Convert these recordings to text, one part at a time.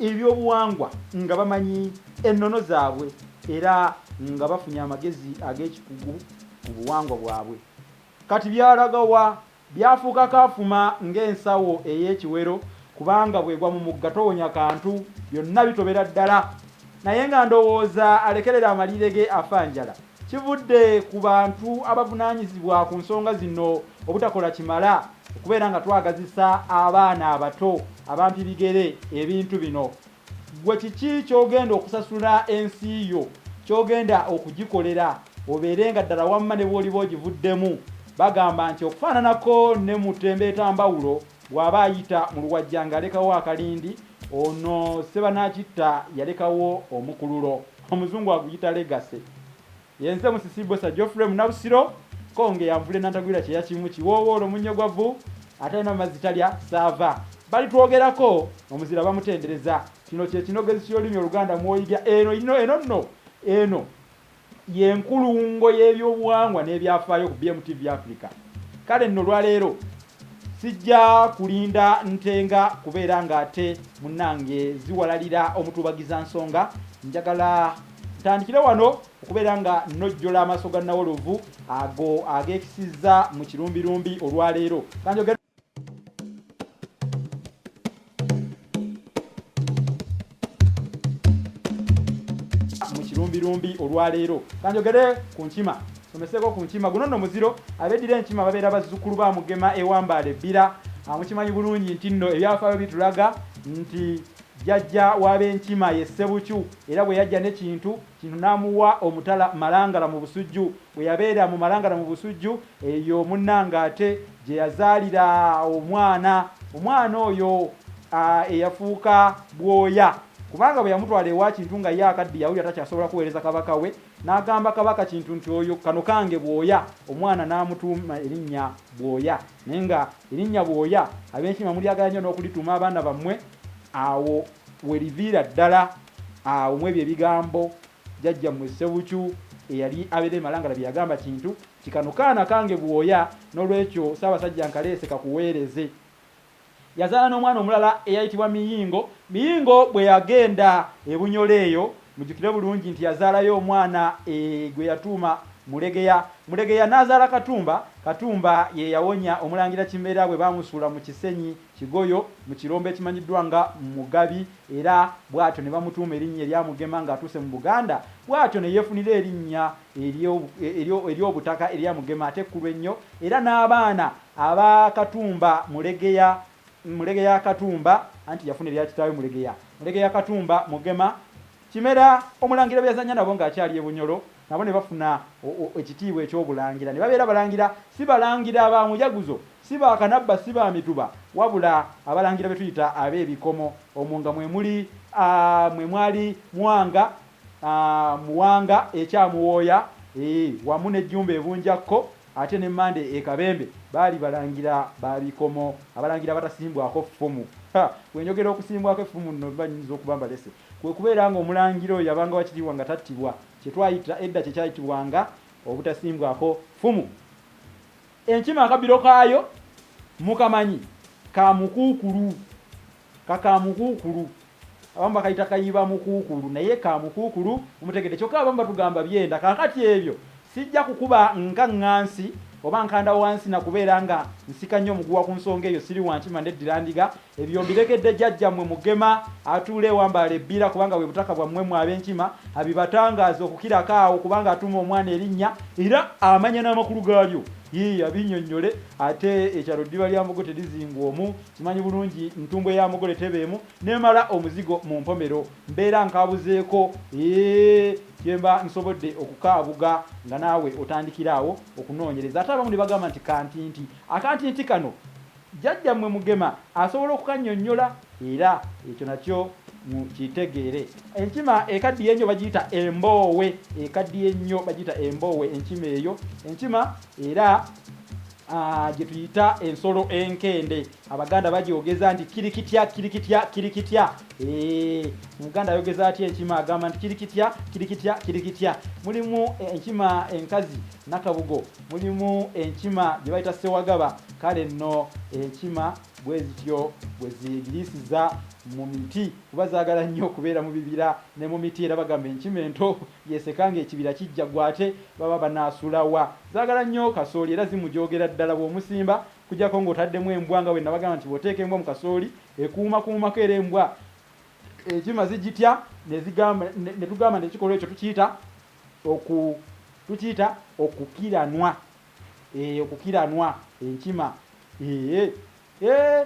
ebyobuwangwa nga bamanyi ennono zaabwe era nga bafunye amagezi ag'ekikugu ku buwangwa bwabwe. Kati byalaga wa? Byafuuka kaafuma ng'ensawo ey'ekiwero kubanga bw'egwa mu mugga towonya kantu, byonna bitobera ddala. Naye nga ndowooza alekerera amaliire ge afa njala. Kivudde ku bantu abavunanyizibwa ku nsonga zino obutakola kimala okubeera nga twagazisa abaana abato abampi bigere ebintu bino. Ggwe kiki ky'ogenda okusasula ensi yo, ky'ogenda okugikolera obeere nga ddala wamma ne bw'oliba ogivuddemu? Bagamba nti okufaananako ne mu ttembeetambawulo, Bw'aba ayita mu luwajja ng'alekawo akalindi, ono Ssebanaakitta yalekawo omukululo, Omuzungu aguyita Legacy. Ye nze Musisi Bbosa Geoffrey Munabusiro, Kkonge ya nvule nantagwira kyeya kimu, kiwoowoolo munnyo gwa vvu, atalina mazzi talya ssaava. Balitwogerako omuzira bamutendereza. Kino kye kinogezi ky'olulimi Oluganda mw'oyiga eno, ino, eno, nno, eno. Ye nkulungo y'ebyobuwangwa n'ebyafaayo ku BMTV Africa. Kale nno olwaleero sijja kulinda Ntenga kubeera ng'ate munnange ziwalalira omutuubagizansonga, njagala ntandikire wano okubeera nga nnojjola amaaso ga Nawolovu ago ageekisizza mu kirumbirumbi olwaleero. Ka njogere. mubirumbi olwaleero kanjogere ku nkima someseko ku nkima guno nno muziro abeddira enkima babeera bazzukulu ba mugema ewambaala ebbira ah, mukimanyi bulungi nti nno ebyafaayo bitulaga nti jjajja w'abenkima ye ssebukyu era bwe yajja nekintu Kino namuwa omutala Malangala mu Busujju. Bwe yabeera mu Malangala mu Busujju, eyo munnange ate gye yazaalira omwana. Omwana oyo eyafuuka bwoya kubanga bwe yamutwala ewa Kintu nga ye akaddiye awulira takyasobola kuweereza Kabaka we n'agamba Kabaka Kintu nti oyo kano kange Bwoya omwana n'amutuuma erinnya Bwoya naye nga erinnya Bwoya Abenkima mulyagala nnyo n'okulituuma abaana bammwe awo Weliviira ddala awo mwebyo ebigambo jajja mwe Ssebukyu eyali abera e Malangala byeyagamba kintu nti kano kaana kange bwoya nolwekyo Ssabasajja nkaleese kakuweereze. Yazaala nomwana omulala eyayitibwa Miyingo. Miyingo bweyagenda e Bunyoro eyo mujukire bulungi nti yazaalayo omwana e gweyatuuma Mulegeya. Mulegeya nazaala Katumba. Katumba yeyawonya omulangira Kimera bwebamusuula mu Kisenyi. Kigoyo mu kirombe ekimanyiddwa nga Mugabi era bwatyo ne bamutuuma erinnya erya Mugema ng'atuuse mu Buganda bwatyo ne yeefunira erinnya ery'obutaka erya Mugema ate ekkulu ennyo era n'abaana aba Katumba Mulegeya Mulegeya Katumba anti yafuna erya kitaawe Mulegeya Mulegeya Katumba Mugema Kimera Omulangira beyazannya nabo ng'akyali e Bunyoro nabo ne bafuna ekitiibwa eky'obulangira ne babeera balangira, si balangira ba mujaguzo, si ba kanabba, si ba mituba, wabula abalangira be tuyita ab'ebikomo, omwo nga mwe muli, mwe mwali Mwanga, Muwanga e Kyamuwooya, eeh, wamu ne Jjumba e Bunjakko, ate ne Mmande e Kabembe, baali balangira ba bikomo, abalangira abatasimbwako ffumu. Ha! Bwe njogera okusimbwako effumu nno mba nnyinza okuba mbalese. Kwe kubeera nga omulangira oyo yabanga wa kitiibwa nga tattibwa, kye twayita edda kye kyayitibwanga obutasimbwako ffumu. Enkima akabbiro kaayo mukamanyi? Ka mukuukulu. Ka ka mukuukulu. Abamu bakayita kayibamukuukulu naye ka mukuukulu, mumutegedde? Kyokka abamu batugamba byenda. Kaakati ebyo sijja kukuba nkaŋŋansi oba nkanda wansi na kubeera nga nsika nnyo muguwa ku nsonga eyo, siri wa nkima, ndeddira ndiga. Ebyo mbiregedde jjajjammwe Mugema atuula e Wambaale Ebbira kubanga bwe butaka bwammwe mmwe Abenkima, abibatangaaze okukirako awo kubanga atuuma omwana erinnya era amanya n'amakulu gaalyo. Yii abinnyonnyole ate ekyalo ddiba lya Mbogo terizingwa omu, nkimanyi bulungi ntumbwe ya mugole teba emu n'emala omuzigo mu mpomero. Mbeera nkaabuzeeko eeh kye mba nsobodde okukaabuga nga naawe otandikira awo okunoonyereza. Ate abamu ne bagamba nti kantinti. Akantinti kano! Jjajja mwe Mugema asobola okukanyonyola era ekyo nakyo mu kitegeere. Enkima ekaddiye ennyo bagiyita emboowe, ekaddiye ennyo bagiyita emboowe enkima eyo. Enkima era gye tuyita ensolo enkende Abaganda bagyogeza nti kirikitya kirikitya kirikitya. Omuganda ayogeza atya enkima agamba nti kirikitya kirikitya kirikitya. Mulimu enkima enkazi Nakabugo Mulimu enkima gye bayita ssewagaba, kale nno enkima bwe zityo bwe zeegiriisiza mu miti kuba zaagala nnyo okubeera mu bibira ne mu miti era bagamba enkima ento y'eseka ng'ekibira kijja ggwa ate baba banaasula wa? Zaagala nnyo kasooli era zimujoogera ddala bw'omusimba okuggyako ng'otaddemu embwa nga bwe nabagamba nti bw'oteeka embwa mu kasooli ekuumakuumako era embwa enkima zigitya ne zigamba ne tugamba nti ekikolwa ekyo tukiyita oku tukiyita okukiranwa ee okukiranwa enkima ee ee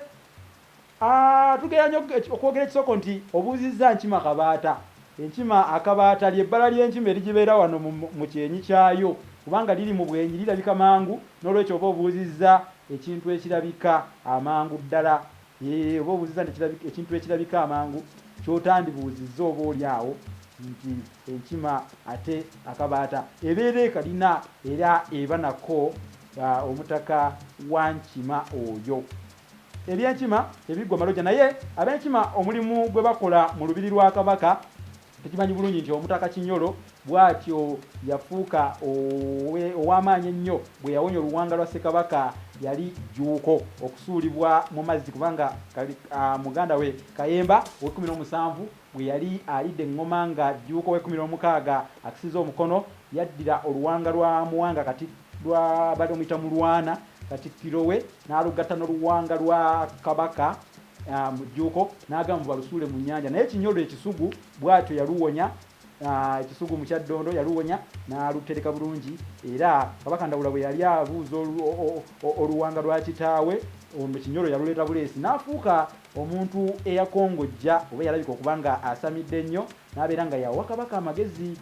aa tugera nyo okwogera ekisoko nti obuuzizza nkima kabaata enkima akabaata ly'ebbala ly'enkima erigibeera wano mu, mu kyenyi kyayo kubanga liri mu bwenyi lirabika mangu n'olwekyo oba obuuzizza ekintu ekirabika amangu ddala. Yee, oba obuuzizza nti ekirabika, ekintu ekirabika amangu ky'otandibuuzizza oba oli awo, nti enkima, ate akabaata, ebeera ekalina era eba nako, a, omutaka wa nkima oyo. Eby'enkima tebiggwa maloja, naye ab'enkima omulimu gwe bakola mu lubiri lwa Kabaka Tukimanyi bulungi nti Omutaka Kinyolo bwatyo yafuuka ow'amaanyi ennyo bwe yawonya oluwanga lwa Ssekabaka yali Jjuuko okusuulibwa mu mazzi kubanga muganda we Kayemba ow'ekkumi n'omusanvu bwe yali alidde eŋŋoma nga Jjuuko ow'ekkumi n'omukaaga akisizza omukono yaddira oluwanga lwa Muwanga kati lwa baali bamuyita Mulwana Katikkiro we n'alugatta n'oluwanga lwa Kabaka mu jjuuko n'agamba mbu balusuule mu nnyanja naye Kinyolo ekisugu bw'atyo yaluwonya ekisugu mu Kyaddondo yaluwonya n'alutereka bulungi era Kabaka Ndawula bwe yali abuuza oluwanga lwa kitaawe ono Kinyolo yaluleeta buleesi n'afuuka omuntu eyakongojja oba eyalabika okuba nga asamidde ennyo n'abeera nga yawa Kabaka amagezi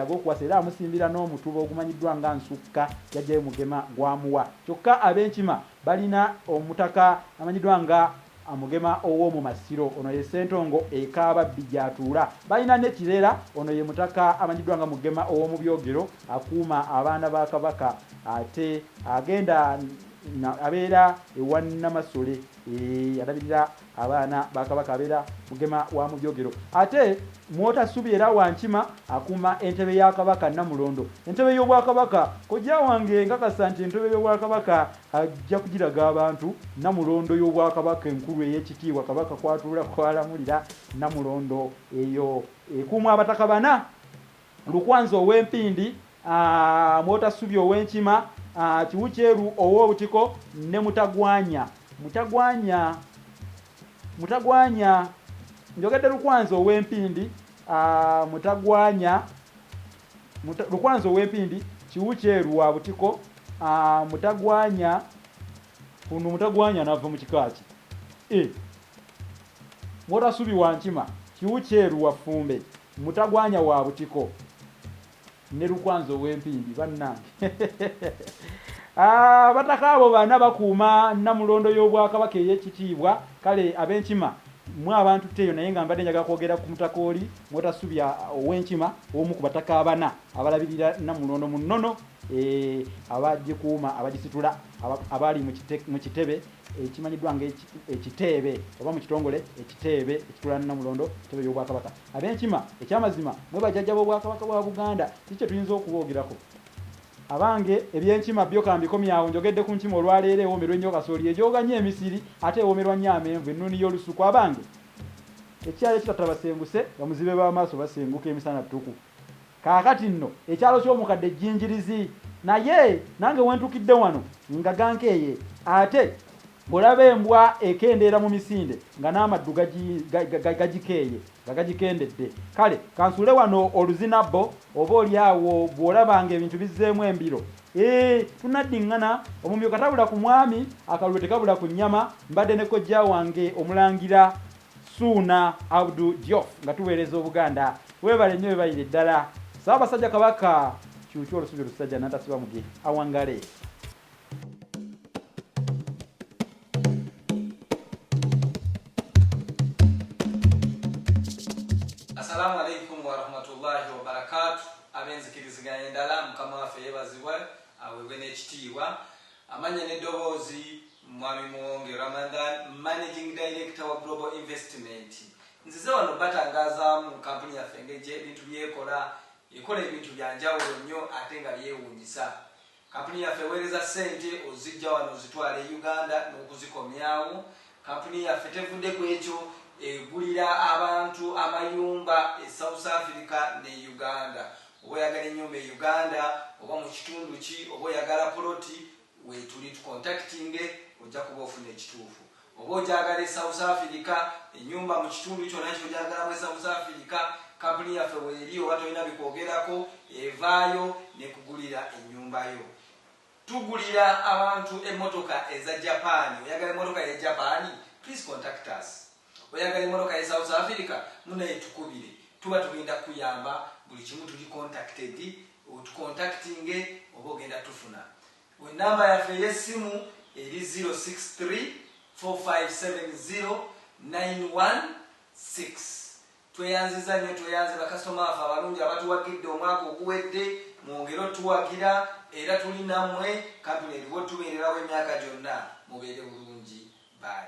ag'okuwasa era amusimbira n'omutuba ogumanyiddwa nga Nsukka yajjayo Mugema gwamuwa kyokka ab'Enkima Balina omutaka amanyiddwa nga Amugema ow'omu Masiro. Ono ye Ssentongo e Kaababbi gy'atuula. Balina ne Kirera. Ono ye mutaka amanyiddwa nga Mugema ow'omu Byogero akuuma abaana ba Kabaka ate agenda abeera ewa Namasole eyalabirira. Abaana ba Kabaka abeera Mugema wa Mujogero ate Mwotasubye era Wankima akuuma entebe ya Kabaka Nnamulondo. Entebe y'Obwakabaka, Kojja wange nkakasa nti entebe y'Obwakabaka ajja kugiraga abantu. Nnamulondo y'Obwakabaka enkulu ey'ekitiibwa Kabaka kw'atuula kw'alamulira. Nnamulondo eyo ekuumwa Abataka bana. Lukwanzi ow'e Mpindi, Mwotassubi ow'e Nkima, Kiwukyeru ow'e Butiko ne Mutagwanya, Mutagwanya, Mutagwanya, njogedde Lukwanzi ow'e Mpindi, Mutagwanya, Muta, Lukwanzi ow'e Mpindi, Kiwukyeru wa Butiko, Mutagwanya. Kuno Mutagwanya anava mu kika ki? E. Mwotassubi wa Nkima, Kiwukyeru wa Ffumbe, Mutagwanya wa butiko ne Lukwanzi ow'empindi bannange ah, abataka abo bana bakuuma namulondo y'Obwakabaka ey'ekitiibwa kale ab'enkima mwe abantu teeyo naye nga mbadde njagala kwogera ku mutaka oli Mwotasubya ow'enkima omu ku bataka abana abalabirira namulondo mu nnono eh, abagikuuma abagisitula abaali mu kitebe ekimanyiddwa nga ekiteebe oba mu kitongole ekiteebe ekitula Namulondo kitebe y'obwakabaka ab'enkima ekyamazima mwe bajajja b'obwakabaka bwa Buganda kiki kye tuyinza okuboogerako abange eby'enkima byo kambikomyawo njogedde ku nkima olwaleero ewoomerwa ennyo kasooli ejooga nnyo emisiri ate ewoomerwa nnyo amenvu ennuuni y'olusuku abange ekirala ekitatta basenguse bamuzibe b'amaaso basenguka emisana ttuku. Kaakati nno ekyalo ky'omukadde Jjinjirizi. Naye nange we ntukidde wano nga gankeeye ate. Bw'olaba embwa ekendeera mu misinde nga n'amaddu gagi, ga, gagikeeye, nga gagikendedde. Kale kansuule wano oluzinabbo, oba oli awo bw'olaba nga ebintu bizzeemu embiro. Eeh, tunaddinngana, omumyu katabula ku mwami, akalulu tekabula ku nnyama, mbadde ne kojja wange Omulangira. Ssuuna Abdu Diof nga tuweereza Obuganda. Weebale nnyo webalire ddala. Ssaabasajja Kabaka kyukyu olusubi lusajja natasiba muge. Awangale. Assalamu alaikum warahmatullahi wabarakatu abenzikiriziganya endala mukama waffe yebazibwe awebwe nekitiibwa Amannya n'eddoboozi, Mwami Muwonge Ramadhan, Managing Director wa Global Investment. Nzize wano obatangazaamu kkampuni yaffe engeri gye ebintu by'ekola. Ekola ebintu bya njawulo nnyo ate nga byewuunyisa. Kkampuni yaffe eweereza ssente oziggya wano ozitwala e Uganda n'okuzikomyawo. Kkampuni yaffe tevudde ku ekyo, egulira abantu amayumba e South Africa ne Uganda. Oba oyagala enyumba e Uganda oba mukitundu ki oba oyagala poloti wetuli tukontakitinge ojja kuba ofuna ekituufu. Oba ogyagala e South Africa enyumba mukitundu kyona kyogyagalamu e South Africa kapuni yaffe weri oba tolina bikwogerako evaayo nekugulira enyumba yo. Tugulira abantu emotoka eza Japan oyagala emotoka ye Japan please contact us. Oyagala emotoka ye South Africa munaye tukubire tuba tugenda kuyamba buli kimu tuli contacted otucontactinge oba ogenda tufuna we number yaffe eyesimu eri 0634570916 tweyanziza nyo tweyanze bakasitoma baffe abalungi abatuwagidde omwaka oguwedde mwongere otuwagira era tuli namwe kampuni eriwo tubererawo emyaka gyonna mubeere bulungi bye.